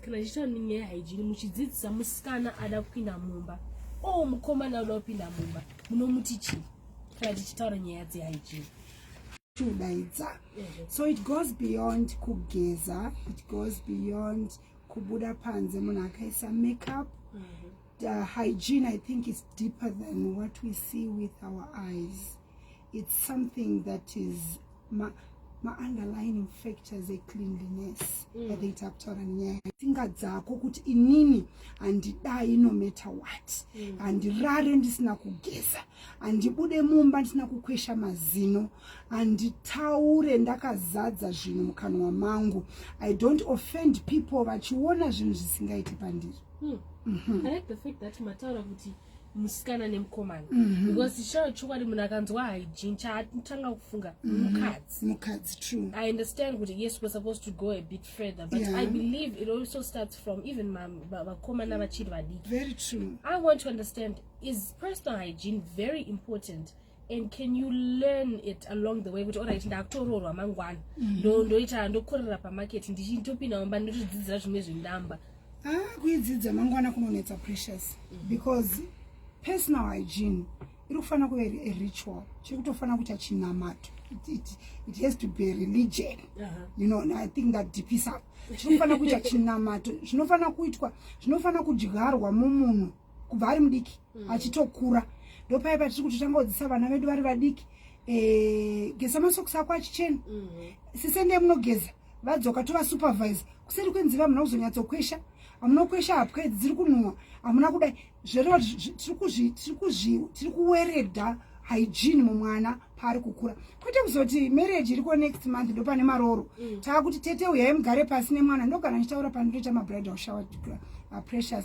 kana chiita nyaya haijini muchidzidzisa musikana ada kupinda mumba o oh, mukomana uda kupinda mumba munomuti chii kana tichitaura nyaya dzehaijini chiudaidza so it goes beyond kugeza it goes beyond kubuda panze munhu akaisa makeup mm -hmm. the hygiene i think is deeper than what we see with our eyes mm -hmm. it's something that is ma, ma underlining factors ecleanliness mm. that they tap to nyaya tsinga dzako kuti inini handidai no matter what mm. handirare ndisina kugeza handibude mumba ndisina kukwesha mazino handitaure ndakazadza zvinhu mukanwa mangu i don't offend people vachiona zvinhu zvisingaiti pandiri mm. mm -hmm. I like the fact that mataura kuti mm. musikana nemukomana mhm. because chitaura chokwadi munhu akanzwa hygiene chaatanga kufunga mhm. mukadzi mukadzi true i understand kuti yes we're supposed to go a bit further but yeah. i believe it also starts from even vakomana vachiri vadiki very true i want to understand is personal hygiene very important and can you learn it along the way kuti orit ndakutoroorwa mangwana mm-hmm. ndoita ndokorera pamarket ndichitopinda mumba ndotodzidzira zvimwe zvindamba ah, kuidzidza mangwana kunonetsa precious mm-hmm. because personal hygiene iri kufanira kuve a ritual chiri kutofanira kuita chinamato it has to be religion uh-huh. you know i think that deepis up chiri kufanira kuita chinamato zvinofanira kuitwa zvinofanira kudyarwa mumunhu kubva ari mudiki mm. achitokura ndopaye patiri kuti tangaodzisa vana vedu vari vadiki eh, geza masokusi ako achichena mm -hmm. sise ndiye munogeza vadzoka tovasupervise kuseri kwenziva hamuna kuzonyatsokwesha hamuna kuesha hapwa idzi dziri kunhuwa hamuna kudai zvereva tiri kuwereda hygiene mumwana paari kukura kwete kuzoti marriage iriko next month ndo pane marooro mm. taakuti tete uyai mugare pasi nemwana ndogara ndichitaura pandinoita mabridal shower uh, precious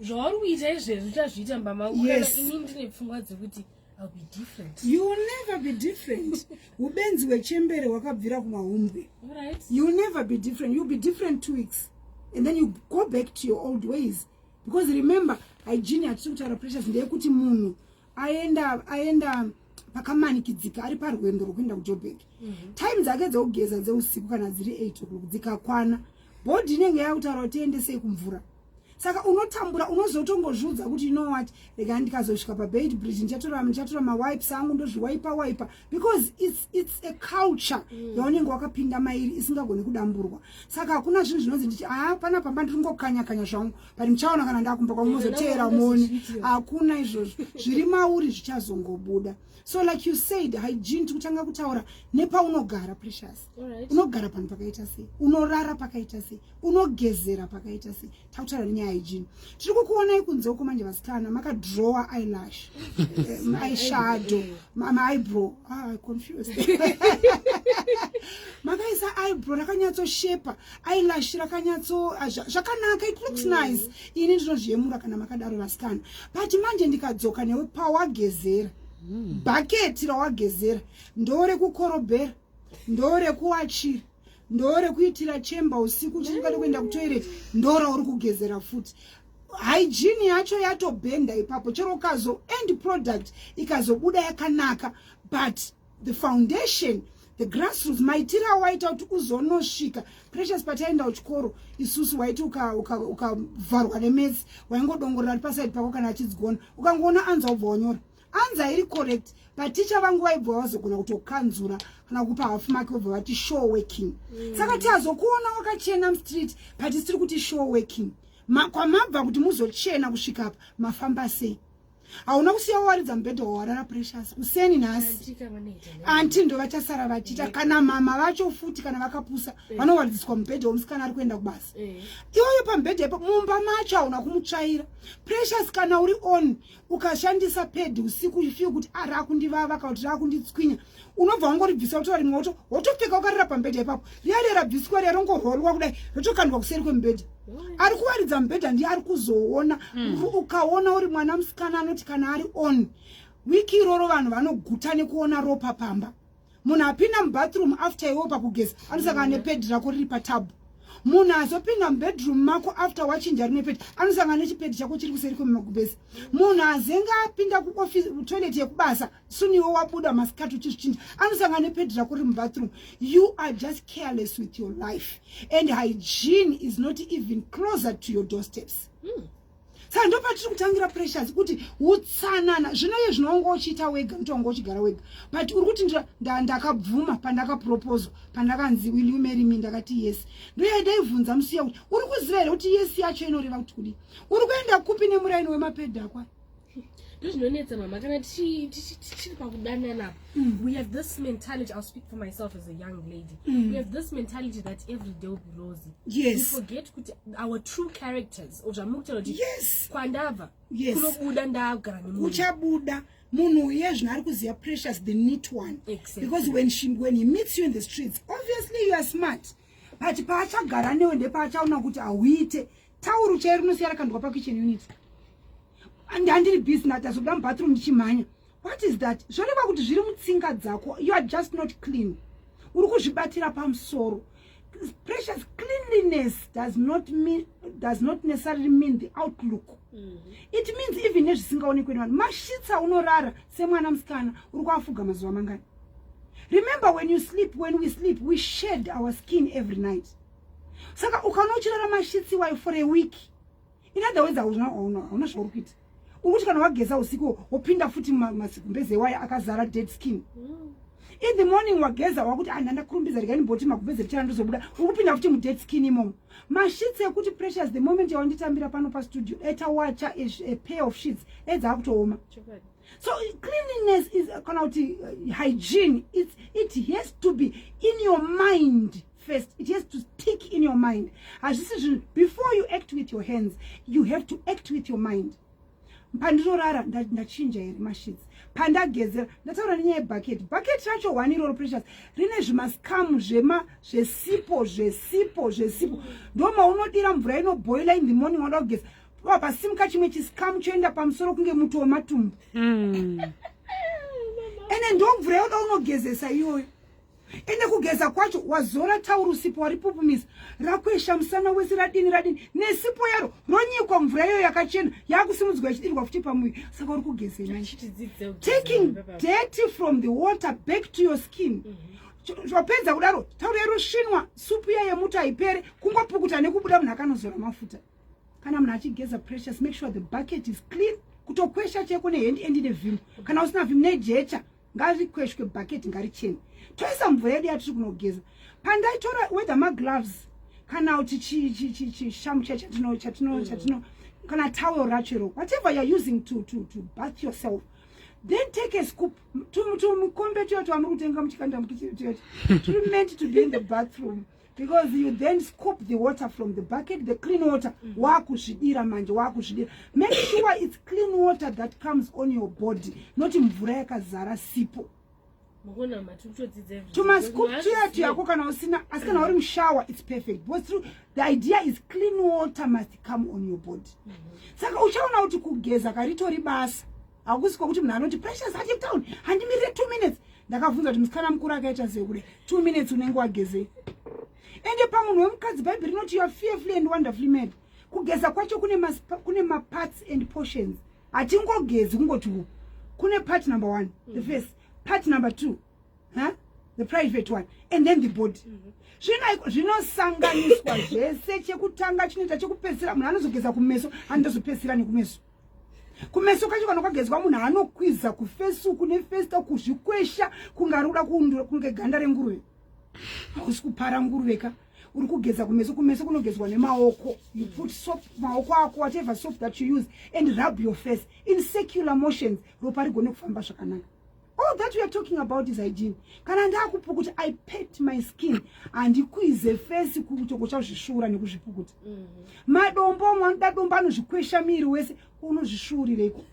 zvauri kuita izvezvi uchazviita mbamau yes. ini ndine pfungwa dzekuti I'll be different. You will never be different. Ubenzi wechembere wakabvira kumahumbwe. Right. You will never be different. You'll be different two weeks. And then you go back to your old ways. Because remember, hygiene hatisi kutaura pressures ndeyekuti munhu aenda aenda pakamanikidzika ari parwendo rwekuenda kujoburg mm -hmm. time dzake dzekugeza dzeusiku kana dziri 8 o'clock dzikakwana bhodhi inenge yakutaura kuti tiendesei kumvura saka unotambura unozotongozviudza kuti ino wati rega ndikazosvika pabed bridge ndichatora ndichatora mawipes angu ndozviwaipa waipa because its, its a culture mm. yaunenge wakapinda mairi isingagoni kudamburwa saka hakuna zvinhu zvinonzi ndichi haa pana pamba ndiri ngokanya kanya zvangu but ndichaona kana ndakumba kwangu mozoteera moni hakuna izvozvo zviri mauri zvichazongobuda so like you said hygiene tikutanga kutaura nepaunogara precious unogara panhu pakaita sei unorara pakaita sei unogezera pakaita sei takutaura nenyaya yejini tiri kukuonai kunze uko manje vasikana makadrowa ilash ishadow maibrow ah, confused makaisa ibrow rakanyatsoshepa ilash rakanyatso ah, zvakanaka it looks mm. nice ini ndinozviyemura kana makadaro vasikana but manje ndikadzoka newe pawagezera mm. bhaketi rawagezera ndore kukorobhera ndorekuwachira ndorekuitira chemba usiku uchingade kuenda kutoilet ndora uri kugezera futi hygiene yacho yatobhenda ipapo chero ukazo end product ikazobuda yakanaka but the foundation the grassroots maitira awaita kuti uzonosvika precious pataienda kuchikoro isusu waiti ukavharwa uka, uka nemetsi waingodongorera ari pasaidi pako kana achidzi gona ukangoona anza ubva wanyora anza iri correct but ticha vangu vaibva vazogona kutokanzura kana kupa half mark vobva vati show working mm. saka tiazokuona wakachena mstreet but sitiri kuti show working Ma, kwamabva kuti muzochena kusvika apa mafamba sei hauna kusiya wawaridza mubhedha wawarara precious kuseni nhasi anti ndo vachasara vachiita eh. kana mama vacho futi kana vakapusa eh. vanowaridziswa mubhedha womusikana ari kuenda kubasa eh. iyoyo pamubhedha ipo mumba macho hauna kumutsvaira precious kana uri on ukashandisa pedi usiku you feel kuti ah, rakundivava kana kuti rakunditswinya unobva wangoribvisa wotora rimwe woto wotopfeka ukarira pambedha ipapo riyaria rabviswa riya rongorholwa kudai rotokandwa kuseri kwemubhedha ari kuwaridza mubhedha ndiye ari kuzoona hmm. ukaona uri mwana musikana anoti kana ari on wiki iroro vanhu vanoguta nekuona ropa pamba munhu apinda mubathroom after iwo pakugeza anosangana nepedi rako riri patabu munhu azopinda mubedroom mako after wachinja rine pedi anosangana nechipedi chako chiri kuseri kwemumagubhesi munhu azenge apinda kutoilet yekubasa suni iwo wabuda masikati uchizvichinja anosangana nepedi rako riri mubathroom you are just careless with your life and hygiene is not even closer to your doorsteps mm. saka ndo patiri kutangira pressures kuti utsanana zvino iye zvino wanga uchiita wega kuti wanga uchigara wega but uri kuti ndakabvuma pandakapropozwa pandakanzi will you marry me ndakati yes ndoya ndaibvunza musiya kuti uri kuziva here kuti yes yacho inoreva kuti kudii uri kuenda kupi nemuraini wemapedhakwa ndozvinonetsa mama kana tichiri pakudanana mm. we have this mentality i'll speak for myself as a young lady mm. we have this mentality that every day will be rosy yes. we forget kuti our true characters or zvamuri kutaura kuti yes. kwandabva yes. kunobuda ndagara nemunhu uchabuda munhu uye zvino ari kuziva precious the neat one exactly. because when, she, when he meets you in the streets obviously you are smart but paachagara newe ndepaachaona kuti hauite tauru chairo rinosiya rakandwa pakitchen unit ndandiri busy ndatazobuda mubathroom ndichimhanya what is that zvoreva kuti zviri mutsinga dzako you are just not clean uri kuzvibatira pamusoro precious cleanliness does not mean does not necessarily mean the outlook mm -hmm. it means even nezvisingaonekwe nevanhu mashitsa unorara semwana musikana uri kuafuga mazuva mangani remember when you sleep when we sleep we shed our skin every night saka ukaona uchirara mashitsi iwayo for a week in other words hauna hauna zvauri kuita uri kuti kana wageza usiku wopinda futi masigumbeze iwayo akazara dead skin mm. in the morning wageza wakuti anhu ah, ndakurumbidza rikani boti magumbeze richana ndozobuda uri kupinda futi mudead skin imomo mashitsi ekuti pressures the moment yawanditambira pano pastudio eta wacha a pair of sheets edza akutooma so cleanliness is kana kuti uh, hygiene it's, it has to be in your mind first it has to stick in your mind hazvisi zvinhu before you act with your hands you have to act with your mind pandinorara ndachinja here mashits pandagezera ndataura nenyaya yebucket bucket racho one iroro precious rine zvimascamu zvema zvesipo zvesipo zvesipo ndomaunodira mvura inoboila in the morning wada kugeza mm. vapasimuka chimwe chisikamu choenda pamusoro kunge muti wematumbu mm. ende ndomvura yoda unogezesa iyoyo ende kugeza kwacho wazora tauro sipo waripupumisa rakwesha musana wese radini radini nesipo yaro ronyikwa mvura iyoyo yakachena yakusimudzwa ichidirwa futi pamuviri saka uri kugezeitaking dirty from the water back to your skin mm -hmm zvapedza kudaro tauro yerushinwa supu iya yemuti haipere kungopukuta nekubuda munhu akanozora mafuta kana munhu achigeza precious make sure the bucket is clean kutokwesha cheko nehendi endi nevhimbo kana usina vhimbo nejecha ngarikweshwe bucket ngarichene toisa mvura yedu yatiri kunogeza pandaitora whether magloves kana kuti chishamu chai chatino chatino mm. chatino kana towel racho iro whatever youare using to, to, to bath yourself then take a scoop tumukombe tuyo twamuri kutenga muchikanda mukitiri tuyo turi meant to be in the bathroom because you then scoop the water from the bucket the clean water mm. wakuzvidira manje wakuzvidira make sure it's clean water that comes on your body not mvura yakazara sipo tumascoop tuya tuyako kana usina asi kana uri mushower it's perfect because through the idea is clean water must come on your body mm -hmm. saka uchaona kuti kugeza karitori basa hakusi kwakuti munhu anoti precious achitown handimirire two minutes ndakavhunza kuti musikana mukuru akaita sei kude two minutes unenge wagezei ende pamunhu wemukadzi bhaibheri rinoti youare fearfully and wonderfully made kugeza kwacho kune maparts and portions hatingogezi kungoti u kune part number one mm. the face part number two huh? the private one and then the body mm-hmm. zvino zvinosanganiswa zvese chekutanga chinoita chekupedzisira munhu anozogeza kumeso anozopedzisira nekumeso kumeso kacho kana kwagezwa munhu anokwiza kufesuku nefesta kuzvikwesha kunge ari kuda kuundura kunge ganda renguruve hausi kupara nguruve ka uri kugeza kumeso kumeso kunogezwa nemaoko you put soap maoko ako whatever soap that you use and rub your face in secular motions ropa rigone kufamba zvakanaka all that we are talking about is hygiene kana ndakupukuta i pet my skin handikwize fesi kutoko chazvisvuura nekuzvipukuta mhm. madombo amwe anoda dombo anozvikwesha miiri wese unozvisvuurireiko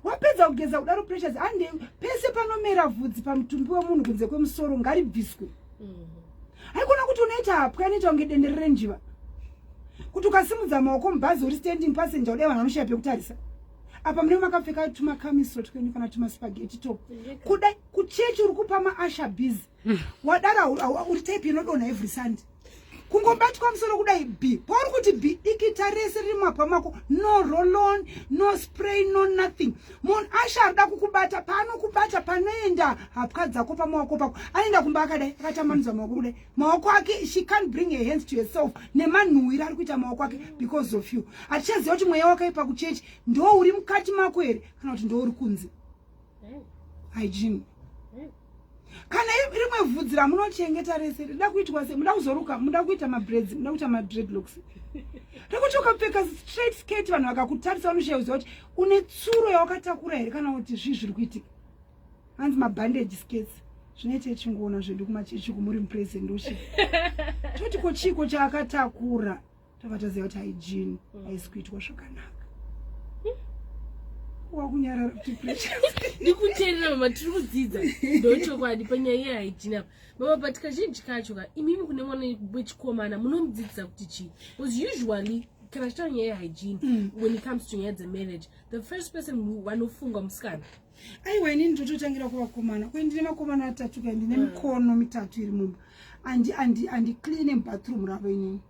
wapedza kugeza kudaro pressures ande pese panomera vhudzi pamutumbi wemunhu kunze kwemusoro ngaribviswe mhm. haikona kuti unoita hapwa inoita kunge dendere renjiva kuti ukasimudza maoko mubhazi uri standing passenger udai vanhu vanoshaya pekutarisa apa mune makapfeka tumakamisiro twenyu kana tumaspageti to kuda kuchechi uri kupa maasha biz hmm. wadara uri type inodonha every sunday kungobatwa musoro kudai b pauri kuti b dikita rese riri mumabva mako no rolon no spray no nothing munhu asha arida kukubata paanokubata panoenda hapwa dzako pamawako pako anoenda kumba akadai akatambanudza mawako kudai maoko ake she can't bring her hands to herself nemanhuwira ari kuita maoko ake because of you hatichaziva kuti mweya wakaipa kuchechi ndo uri mukati mako here kana kuti ndo uri kunze hygiene kana rimwe vhudzi ramunochengeta rese rida kuitwa se muda kuzoruka muda kuita mabreds muda kuita madredlocks rekuti ukapfeka straight skate vanhu vakakutarisa vanoshaya kuziva kuti une tsuro yawakatakura here kana kuti zvii zviri kuitika hanzi mabhandage skates zvine chechingoona zvedu kumachechi kumuri muprese ndoshe toti ko chiiko chaakatakura tava taziva kuti haijini mm. haisi kuitwa zvakanaka wakunyarara kuti ndikuteerera mama tiri kudzidza ndochokwadi panyaya iye haijini apa mama but kazhinji kacho ka imimi kune mwana wechikomana munomudzidzisa kuti chii bcause usually kana chitaura nyaya yehygiene mm. when it comes to nyaya dzemarriage the first person vanofunga musikana aiwa inini ndototangira kuvakomana kwe ndine makomana atatu kai ndine mm. mikono mitatu iri mumba andicleane mubathroom ravo inini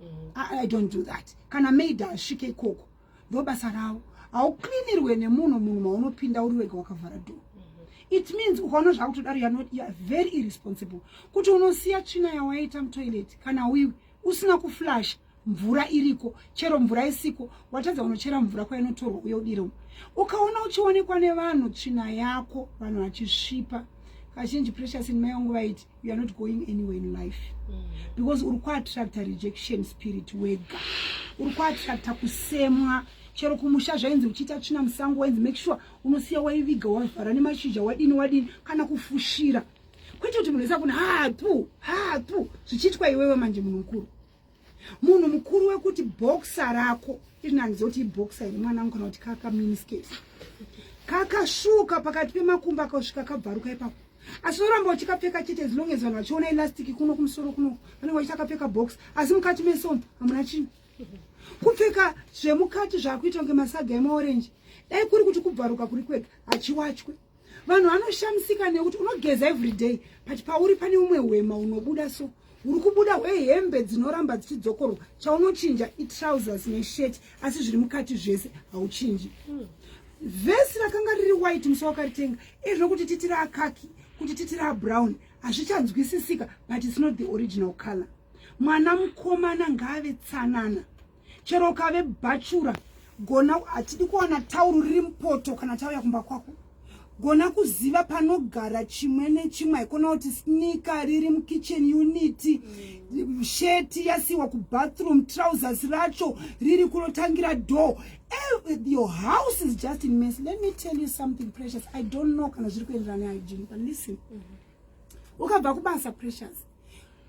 mm. i don't do that kana maid asvike ikoko ndobasa ravo haucleanirwe nemunhu munhu maunopinda uri wega wakavhara door mm-hmm. it means ukaona zvakutodaro youare very irresponsible kuti unosiya tsvina yawaita mutoilet kana wiwi usina kuflasha mvura iriko chero mvura isiko watadza unochera mvura kwainotorwa uye udire umu ukaona uchionekwa nevanhu tsvina yako vanhu vachisvipa kazhinji precious in mai vangu vaiti you are not going anywhere in life mm. because uri kuattracta rejection spirit wega uri kuattracta kusemwa chero kumusha zvainzi uchiita tsvina musango wainzi make sure unosiya waiviga wavhara nemashizha wadini wadini kana kufushira kwete kuti munhu isa kuna hatu hatu zvichiitwa iwewe manje munhu mukuru munhu mukuru wekuti boxa rako inanzi oti iboxa iri mwana mukana kuti kaka miniskes kakasvuka pakati pemakumba akasvika kabvaruka ipapo asi unoramba uchikapfeka chete as long as vanhu vachiona elastiki kuno kumusoro kuno vanenge vachita kapfeka box asi mukati mesomo hamuna chinhu kupfeka zvemukati zvaakuita kunge masaga emaorenji dai kuri kuti kubvaruka kuri kwega hachiwachwe vanhu vanoshamisika nekuti unogeza everyday but pauri pane umwe hwema unobuda so uri kubuda hwehembe dzinoramba dzichidzokorwa chaunochinja itrousers neshet asi zviri mukati zvese hauchinji hmm. vhesi rakanga riri white musi wakaritenga ezvo kuti titi raakaki kuti titi rabrown hazvichanzwisisika but its not the original color mwana mukomana ngaave tsanana chero ukave bhachura gona hatidi kuwana tauru riri mupoto kana tauya kumba kwako gona kuziva panogara chimwe nechimwe haikona kuti snika riri mukitchen unity mm. sheti yasiwa kubathroom trousers racho riri kunotangira door eh, your house is just in mess let me tell you something precious i don't know kana zviri kuenderana nehygiene but listen mm -hmm. ukabva kubasa precious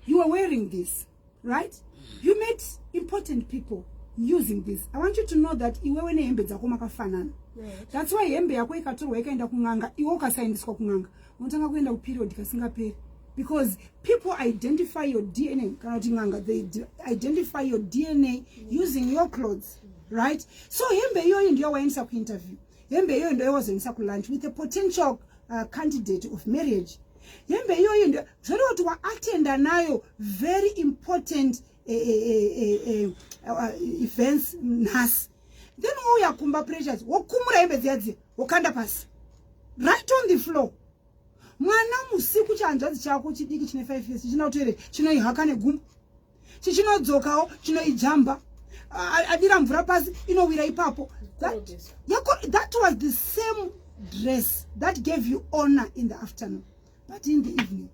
you are wearing this right you met important people using this i want you to know that iwewe nehembe dzako makafanana that's why hembe yako ikatorwa ikaenda kun'anga iwe ukasaendeswa kun'anga unotanga kuenda kuperiod kasingaperi because people identify your dna kana kuti n'anga they identify your dna using your clothes right so hembe iyoyo ndiyo waendesa kuinterview hembe iyoyo ndo yawazoendesa kulunch with a potential uh, candidate of marriage hembe iyoyo ndo zvoreva kuti waatenda nayo very important eh, eh, eh, uh, events nhasi then wouya kumba pressures wokumura hembe dziya dziya wokanda pasi right on the floor mwana musiku chihanzvadzi chako chidiki chine five years china kutoere chinoihaka negumbo chichinodzokawo chinoijamba adira mvura pasi inowira ipapo that, that was the same dress that gave you honor in the afternoon but in the evening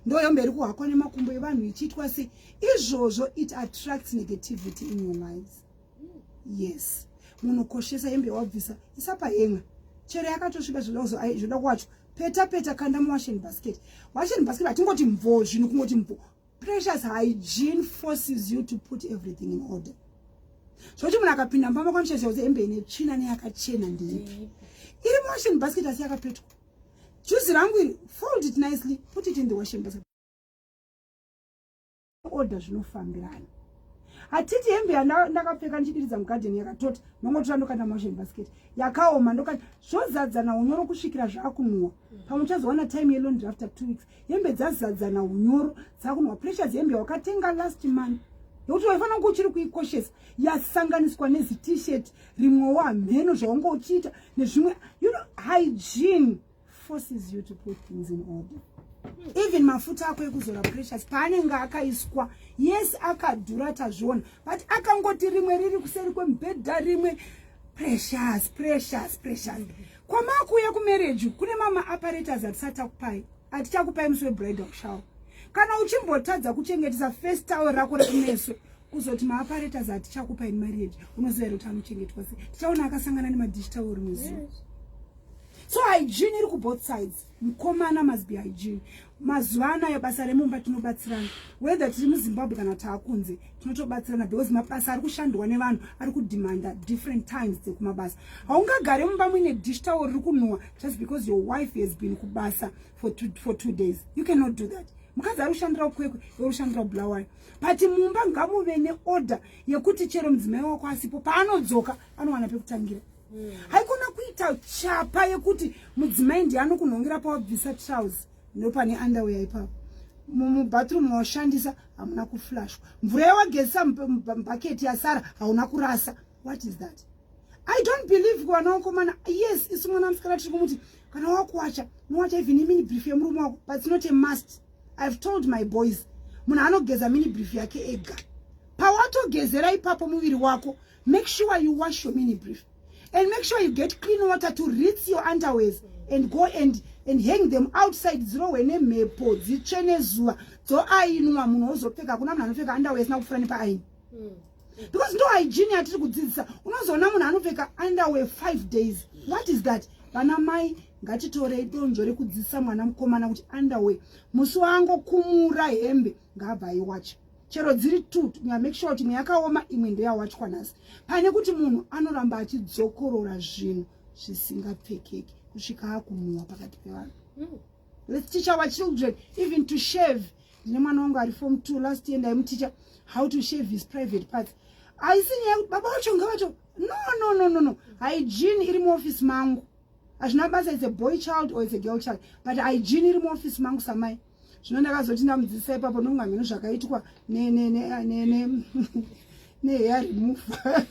ndoyo mberi kuhakwa nemakumbo evanhu ichiitwa se izvozvo it attracts negativity in your lives yes munokoshesa hembe wabvisa isapa henga chero yakatosviba zvoda kuwacho peta peta kanda muwashen basket washen basket hatingoti mvo zvinhu kungoti mvo Precious hygiene forces you to put everything in order. Zvoti munhu akapinda mumba mako nisheshe kuti hembe ine tsvina neyakachena ndeipi. Iri muwashing basket asi yakapetwa. Juzi rangu iri fold it nicely, put it in the washing basket. Order zvinofambirana. Hatiti hembe yandakapfeka ndichidiridza mugarden yakatota ndongotora ndokanda muwashing basket. Yakaoma ndokanda zvozadzana unyoro kusvikira zvakunwa. Pamwe uchazowana time yelondry after two weeks. hembe dzazadzana unyoro dzakunwa pressure dzehembe yawakatenga last month nokuti waifanira kunge uchiri kuikoshesa yasanganiswa nezitishet rimwewo hamheno zvaunge uchiita nezvimwe you know hygiene forces you to put things in order even mafuta ako ekuzora pressures paanenge akaiswa yes akadhura tazviona but akangoti rimwe riri kuseri kwemubhedha rimwe pressures pressures pressures mm -hmm. kwamakuuya kumarriage kune mama apparatus atisachakupai atichakupai musi webridal shower kana uchimbotadza kuchengetesa first tower rako rekumeso kuzoti maaparetas hatichakupa in marriage unoziva here kuti anochengetwa se tichaona akasangana nemadish tower muziva so hygiene iri kuboth sides mkomana must be hygiene mazuva anayo basa remumba tinobatsirana whether tiri muzimbabwe kana taakunze tinotobatsirana because mabasa ari kushandwa nevanhu ari kudemanda different times dzekumabasa haungagare mumba muine dish tawo riri kunhuwa just because your wife has been kubasa for two, for two days you cannot do that mukadzi ari kushandira ukwekwe uri kushandira ubulawayo but mumba ngamuve neorder yekuti chero mudzimai wako asipo paanodzoka anowana pekutangira mm. haikona kuita chapa yekuti mudzimai ndiye anokunhongera pawabvisa trouse ndopane underwear ipapo mubathroom mawashandisa hamuna kuflashwa mvura yawagezisa mubhaketi yasara hauna kurasa what is that i don't believe kuvana wakomana yes isu mwana musikana tiri kumuti kana wakuwacha unowacha even imini brief yemurume wako but it's not a must ihave told my boys munhu anogeza mini brief yake ega pawatogezera ipapo muviri wako make sure you wash your mini brief and make sure you get clean water to rinse your underwears and go and and hang them outside dzirohwe nemhepo dzitsve nezuva dzoainwa munhu ozopfeka kuna munhu anopfeka underwear asina kufura nepaaini hmm. because ndo hygiene yatiri kudzidzisa unozoona munhu anopfeka underwear five days what is that vana mai ngatitorei donzvo rekudzidzisa mwana mukomana kuti underwear musi waangokumura hembe ngaabva aiwacha chero dziri two tinya make sure kuti imwe yakaoma imwe ndeyawachwa nhasi pane kuti munhu anoramba achidzokorora zvinhu zvisingapfekeki kusvika akumwiwa pakati pevanhu hmm. let's teach our children even to shave ndine mwana wangu ari form two last year ndaimuticha how to shave his private parts haisi nyaya yekuti baba vacho ngavacho no no no no no hygiene iri muoffice mangu hazvina basa it's a boy child or it's a girl child but hygiene iri muoffice mangu samai zvino ndakazoti ndamudzisa ipapo ndomwa mheno zvakaitwa neheya remufa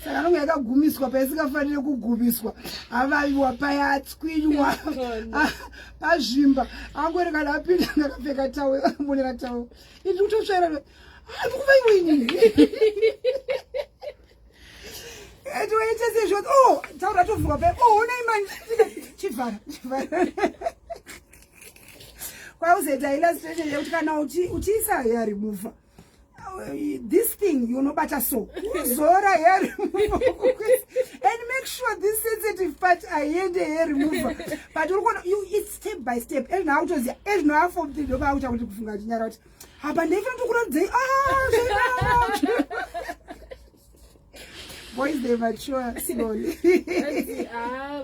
saka nonge yakagumiswa paisikafanire kugumiswa avaviwa paya atswinywa ah, pazvimba angori kana apinda ndakapfeka tawo akamonera tawo ii ndikutotsvaira andikuvaiwinii Etoita sezvo oh taura tovuka pe oh unei manje chivhara chivhara kwauzoita illustration yekuti kana uchiisa uchi hair remover this thing you know better so uzora hair remover and make sure this sensitive part aiende hair remover but uri kuona you it's step by step ezvinoautoziva ezvinoafomdinoba auta kuti kufunga kuti nyara kuti apa ndaifanira tokuradzei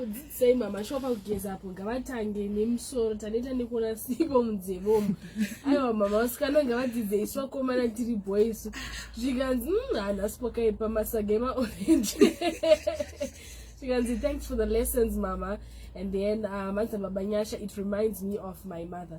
dzidzisai mama shuwa pakugeza apo ngavatange nemusoro taneta nekuona sipo mudzevomo aiwa mama vasikana ngavadzidze isu vakomana tiri boys zvikanzi mm, hanhasi pakaipa masaga emaorenji zvikanzi thanks for the lessons mama and then uh, manzi baba nyasha it reminds me of my mother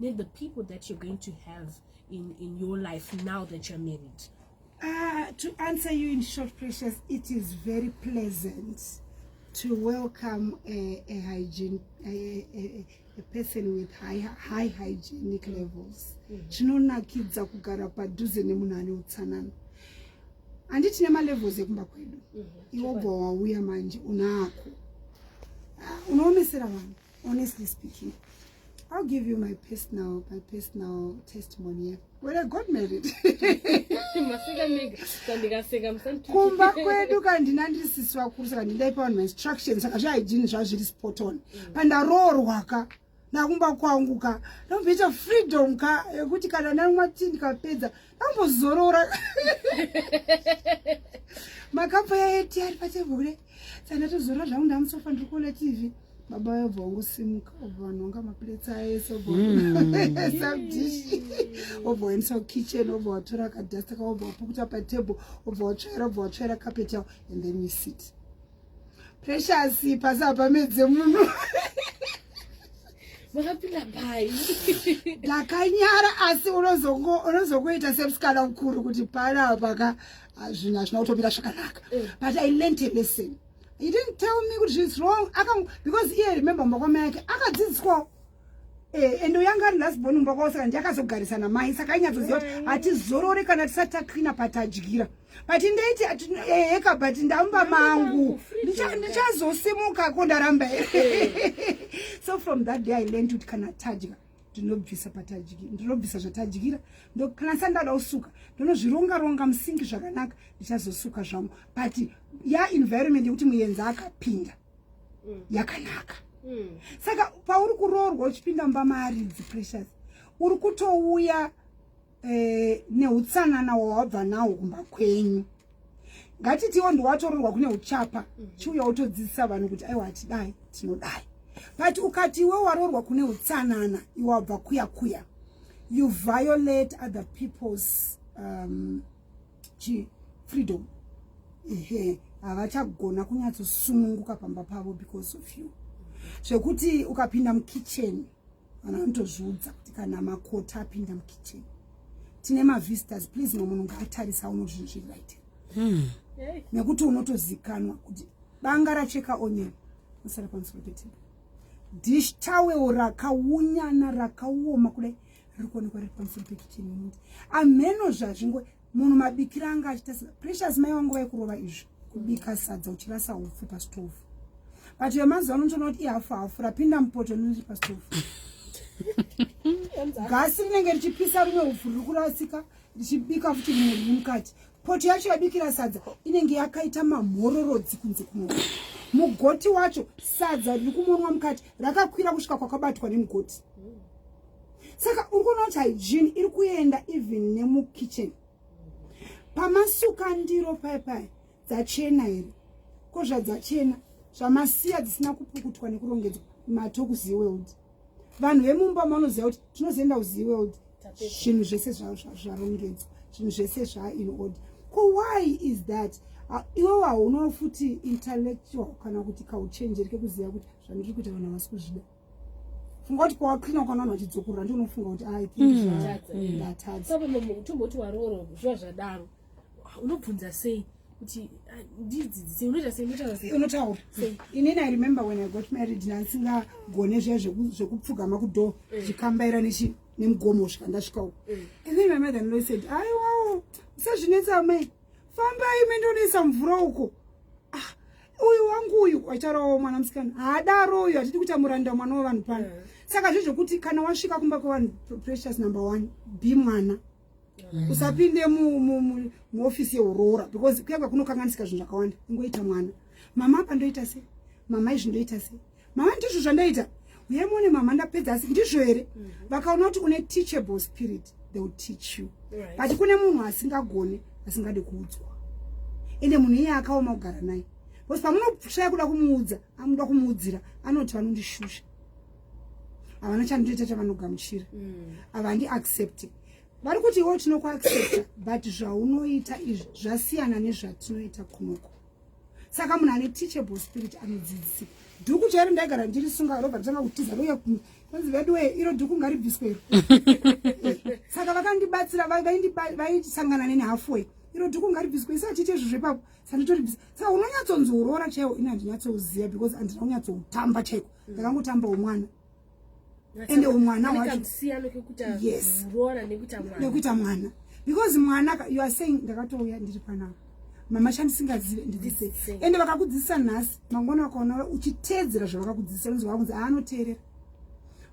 then the people that you're going to have in, in your life now that you're married? Uh, to answer you in short, Precious, it is very pleasant to welcome a, a hygiene, a, a, a person with high, high hygienic mm. levels. Mm-hmm. Chinonakidza kugara padhuze nemunhu ane utsanana. Handi tine malevels ekumba kwedu. Mm-hmm. Iwo bwa wauya manje unako. Ah, unoomesera vanhu. honestly speaking I'll give you my personal, my personal testimony. When I got married. kumba kwedu kandina ndiri sisi vakuru saka ndindaipa vanhu mainstructions saka zvahygiene zvazviri spot on mm. pandaroorwa ka ndakumba kwangu ka ndomboita freedom ka yekuti kana namwati ndikapedza yeah, ambozorora makapo yaeti ari patebho kude sandatozorora zvangu ndamusofa ndiri kuona tv baba yobva ungosimuka obva vanonga maplates aese obvasabdish hmm. obva waendesa kukitchen obva watora kadasta kaobva wapukuta patable obva watsvaira obva watsvaira carpet yao and then we sit Precious pasi hapamedze munhu makapinda pai ndakanyara asi unozokuita semusikana mukuru kuti pana paka zvinhu hazvina kutomira zvakanaka eh. but i learnt a lesson he didn't tell me kuti zviis wrong because iye remember makwama yake akadzidziswawo Eh, ende uyanga ari last born mumba kwavo saka ndiye akazogarisa namai saka ainyatsoziva kuti hatizorore kana tisati taklina patadyira but ndaiti eheka but ndamba mangu ndichazosimuka ko ndaramba so from that day i learned kuti kana tadya ndinobvisa patadyira ndinobvisa zvatadyira kana sa ndada kusuka ndinozvironga ronga musingi zvakanaka ndichazosuka zvangu but ya environment yekuti muyenzi akapinda yeah, mm. yakanaka mm. saka pauri kuroorwa uchipinda mumba maaridzi precious uri kutouya eh, neutsanana wawabva nawo kumba kwenyu ngatitiwo ndiwatororwa kune uchapa mm -hmm. chiuya wotodzidzisa vanhu kuti aiwa hatidai tinodai but ukati iwe waroorwa kune utsanana iwe wabva kuya kuya you violate other people's um, chi freedom ehe havachagona kunyatsosununguka pamba pavo because of you zvekuti ukapinda mukitchen vana vanotozviudza kuti kana makota apinda mukitchen tine mavisitors please mwe munhu ngaatarisa uno zvinhu zviri right hmm. nekuti unotozikanwa kuti banga racheka onion usara pamusoro petebe dish tawel rakaunyana rakaoma kudai riri kuonekwa riri pamusoro pekicheni yemuti amheno zvazvingo munhu mabikira anga achita precious mai vangu vaikurova izvi kubika sadza uchirasa upfu pastove but vemazuva ano ndinoona kuti ihafu hafu rapinda mupoto rinoti pastove gasi rinenge richipisa rumwe upfu riri kurasika richibika futi rimwe riri mukati poto yacho yabikira sadza inenge yakaita mamhororodzi kunze kuno mugoti wacho sadza riri kumonwa mukati rakakwira kusvika kwakabatwa nemugoti saka uri kuona kuti hygiene iri kuenda even nemukitchen pamasuka ndiro pai pai dzachena here ko zvadzachena zvamasiya dzisina kupukutwa nekurongedzwa mato kuzeworld vanhu vemumba mavanoziva kuti tinozoenda kuzeworld zvinhu zvese zvarongedzwa zvinhu zvese zvaa in order ko why is that iwo haunawo futi intellectual kana kuti kauchenjeri kekuziva kuti zvandiri kuita vanhu havasi kuzvida funga kuti kwawaklina ukanwana uchidzokorora ndi unofunga kuti ai ndatadzautomboti mm. waroora zviva zvadaro unobvunza sei kuti ah, ndidzidzise unoita sei unotaura sei unotaura inini i remember when i got married ndandisingagone zviya zvekupfugama kudoor eh. zvikambaira nechi nemugomo kusvika ndasvika uko eh. and then my mother in law said aiwawo usazvinetsa amai fambai mendonoisa mvura uko ah, uyu wangu uyu wacharovawo mwana musikana haadaro uyu hatidi kuita muranda mwana wevanhu pano mm. saka zve zvekuti kana wasvika kumba kwevanhu precious number one be mwana mm. usapinde muofisi yeuroora because kuyanga kunokanganisika zvinhu zvakawanda ingoita mwana mama apa ndoita sei mama izvi ndoita sei mama ndizvo zvandaita uye muone mama ndapedza asi ndizvo here mhm. vakaona kuti une teachable spirit they will teach you but kune munhu asingagone asingade kuudzwa ende munhu iye akaoma kugara naye bcause pamunoshaya kuda kumuudza amuda kumuudzira anoti vanondishusha havana chandoita chavanogamuchira mm. havandi mm. accepte vari kuti iwo tinokuaccepta but zvaunoita izvi zvasiyana nezvatinoita kunoko saka munhu ane teachable spirit anodzidzisika dhuku chairo ndaigara ndirisunga robva nditanga kutiza roya kwanzi vedu wee iro dhuku ngaribviswero saka vakandibatsira vaisangana neni halfway iro dhuku ngaribviswe isa achiite izvo zvepapo sanditoribvisa saka unonyatsonzoroora chaiwo ini handinyatsouziva because andina kunyatsoutamba chaiko ndakangotamba umwana ende umwana wachonekuita mwana because mwana you are saying ndakatouya ndiri panapa mama chandisingazive ndidzise ende vakakudzidzisa nhasi mangona wakaona uchiteedzera zvavakakudzidzisa unonzi waakunzi aanoteerera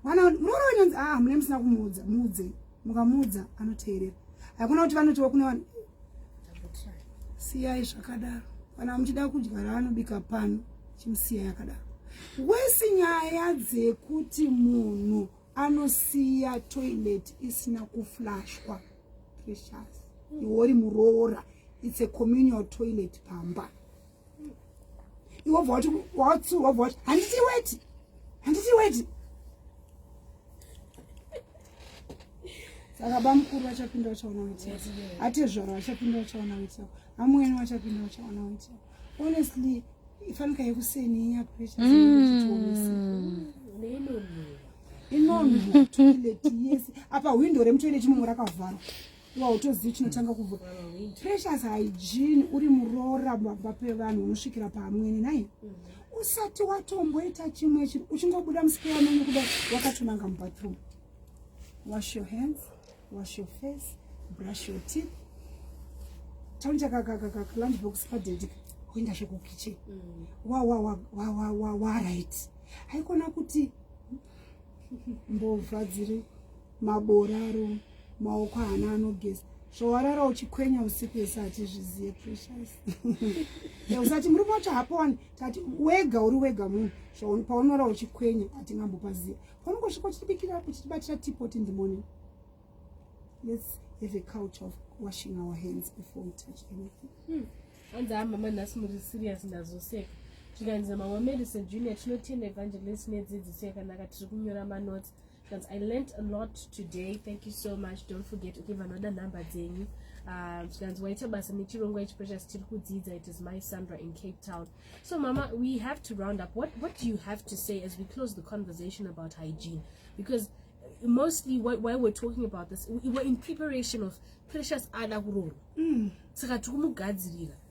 mwana muroora unonzi a ah, hamune musina kumuudza muudzei mukamuudza anoteerera hakuna kuti vanotiwa kune vanhu siyai zvakadaro kana muchida kudya raanobika pano chimusiyai akadaro wesi nyaya dzekuti munhu anosiya toilet isina kuflashwa precious iwori muroora it's a communal toilet pamba iwe bva wati watsu wabva wati handiti weti handiti weti saka bamukuru vachapinda vachaona weti atezvaro vachapinda vachaona weti yako amwene vachapinda vachaona weti yako honestly ifanika yekuseni inya pressure zinochitiomesa mm. inonhutuileti yese apa hwindo remutoileti mumwe rakavharwa wautozivi chinotanga kubva precious hygiene uri muroora baba pevanhu unosvikira paamwene nai usati watomboita chimwe chinhu uchingobuda musikeya menyu kuda wakatonanga mubathroom wash your hands wash your face brush your teeth taunja kakalunch box padedika kuenda sho kukitchen mm. wawawawawawaright haikona kuti mbovha dziri maboraro maoko haana anogeza zvawarara uchikwenya usiku ese hatizvizive precious usati murume wacho hapo wani tati wega uri wega munhu paunorara uchikwenya hatingambopaziva paunongosvika uchitibikira uchitibatira tipot in the morning let's have a culture of washing our hands before we touch anything hmm. hanzi hmm. amama nhasi muri serious ndazoseka zvikanzi mama medicine junior tinotenda evangelist nedzidziso yakanaka tiri kunyora manoti That's, I learned a lot today. Thank you so much. Don't forget ukiva anoda nhamba dzenyu um, zvikanzi waita basa nechirongwa ichi precious tiri kudzidza it is my sandra in cape town so mama we have to round up what, what do you have to say as we close the conversation about hygiene because uh, mostly what, why we're talking about this we were in preparation of precious ada kuroorwa mm. saka tikumugadzirira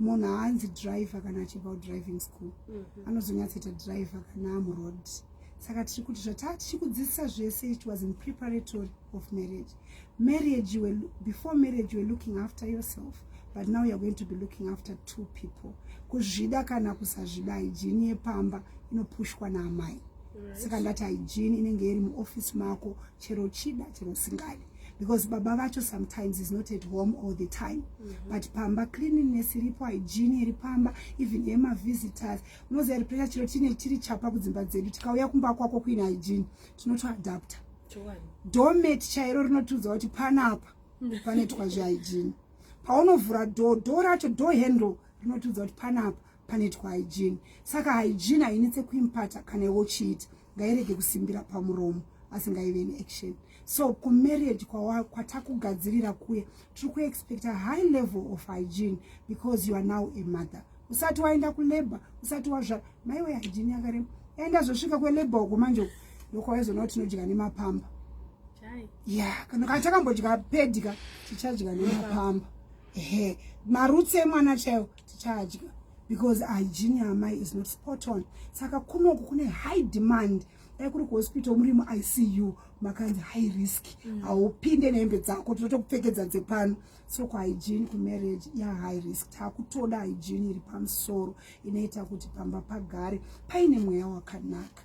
munhu haanzi driver kana achibva kudriving school mm -hmm. anozonyatsoita driver kana amuroad saka tiri kuti zvataa tichikudzidzisa zvese it was in preparatory of marriage marriage you were, before marriage you were looking after yourself but now youare going to be looking after two people kuzvida kana kusazvida hygiene yepamba inopushwa naamai right. saka ndati hygiene inenge iri muoffice mako chero chida chero usingadi because baba vacho sometimes is not at home all the time mm -hmm. but pamba cleanliness iripo hygiene iri pamba even yemavisitors unoziva iri pressure chiro tine tiri chapa kudzimba dzedu tikauya kumba kwako kuine hygiene tinotoadapta domet chairo rinotiudza kuti panapa panoitwa zvehygiene paunovhura do do racho do handle rinotiudza kuti panapa panoitwa hygiene saka hygiene hainetse kuimpata kana iwe uchiita ngairege kusimbira pamuromo asi ngaive neaction so kumarriage kwatakugadzirira kwa kuye tiri kuexpecta high level of hygiene because you are now a mother usati waenda kulabor usati wazvara maiwe hygiene yakarema yaenda zvosvika kwelabor uko manje uko ndokwawaizoona kuti tinodya nemapamba ya kana kana takambodya pedya tichadya nemapamba ehe marutsi emwana chaiwo tichadya because hygiene yamai is not spot on saka kunoku kune high demand dai kuri kuhospital muri muicu makanzi high risk mm. haupinde mm. nehembe dzako tinotokupfekedza dzepano so kuhygiene kumarriage yahigh risk takutoda hygiene iri pamusoro inoita kuti pamba pagare paine mweya wakanaka